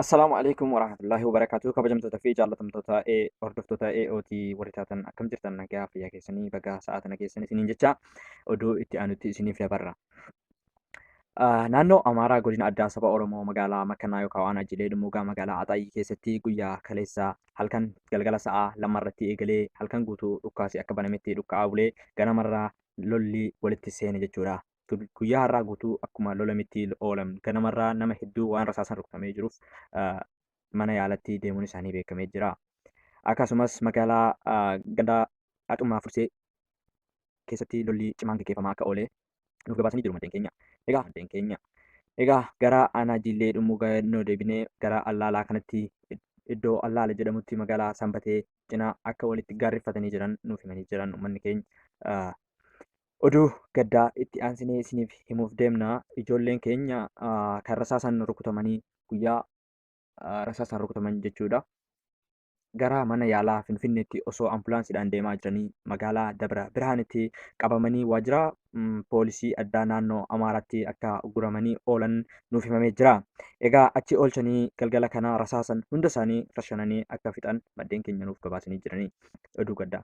Assalaamu alaikum warahmatullahi wabarakatuh kabajamtoota fi jaallatamtoota ee hordoftoota AOT warri taatan akkam jirtan nagaa fayyaa keessanii bagaa sa'aa tana keessan isiniin jecha oduu itti aanutti isiniif dabarra. Ah, Naannoo Amaaraa godina addaa saba Oromoo magaalaa Makkanaa yookaan waan ajilee dhummuugaa magaalaa Axaayii keessatti guyyaa kaleessa halkan galgala sa'aa lamarratti eegalee halkan guutuu dhukkaasi akka banametti dhukka'aa bulee ganamarraa lolli walitti seene jechuudha. guyyaa har'aa guutuu akkuma lolamitti oolan ganamarraa nama hedduu waan rasaasan rukutamee jiruuf mana yaalatti deemuun isaanii beekamee jira. Akkasumas magaalaa ganda Axummaa Fursee keessatti lolli cimaan gaggeeffamaa akka oole nuuf gabaasanii jiru maddeen keenya. Egaa maddeen keenya. Egaa gara aanaa Jiillee dhumuu gannoo deebinee gara Allaalaa kanatti iddoo Allaala jedhamutti magaalaa Sanbatee cinaa akka walitti gaarreffatanii jiran nuuf himanii jiran uummanni keenya. Oduu gaddaa itti aansinee isiniif himuuf deemna. Ijoolleen keenya kan rasaasaan rukutamanii guyyaa rasaasaan rukutaman jechuudha. Gara mana yaalaa Finfinneetti osoo ambulaansiidhaan deemaa jiranii magaalaa Dabra Birhaanitti qabamanii waajjira poolisii addaa naannoo Amaaraatti akka guramanii oolan nuuf himamee jira. Egaa achi oolchanii galgala kana rasaasan hunda isaanii rashananii akka fixan maddeen keenya nuuf gabaasanii jiranii oduu gaddaa.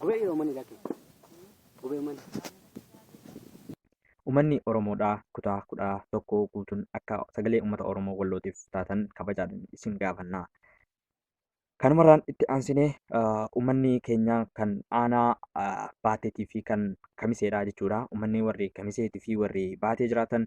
Gubee Oromoon irraa kee. Gubee Oromoon. Uummanni Oromoodhaa kutaa 11 guutuun akka sagalee uummata Oromoo Wallootiif taatan kabajaadhaan isin gaafanna. Kanumarraan itti aansinee uummanni keenya kan aanaa baateetii fi kan kamiseedha jechuudha. Uummanni warri kamiseetii fi warri baatee jiraatan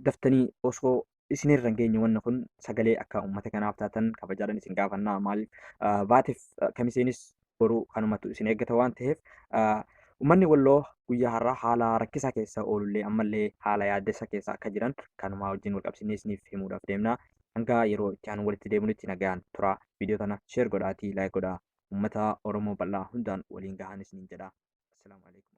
daftanii osoo isinirra hin geenye wanni kun sagalee akka uummata kanaaf taatan kabajaadhaan isin gaafannaa maaliif ah, baatiif ah, kamiseenis boruu kanumatu isin eeggata waan ta'eef ah, Uummanni Walloo guyyaa har'aa haala rakkisaa keessa oolullee ammallee haala yaaddessa keessa akka jiran kanumaa wajjin wal qabsiisnee isiniif himuudhaaf deemna. Hanga yeroo itti aanu walitti deebinutti nagaan tura. Viidiyoo tana sheer godhaatii laayik godhaa. Uummata Oromoo bal'aa hundaan waliin gahaan isiniin jedha. Assalaamu alaikum.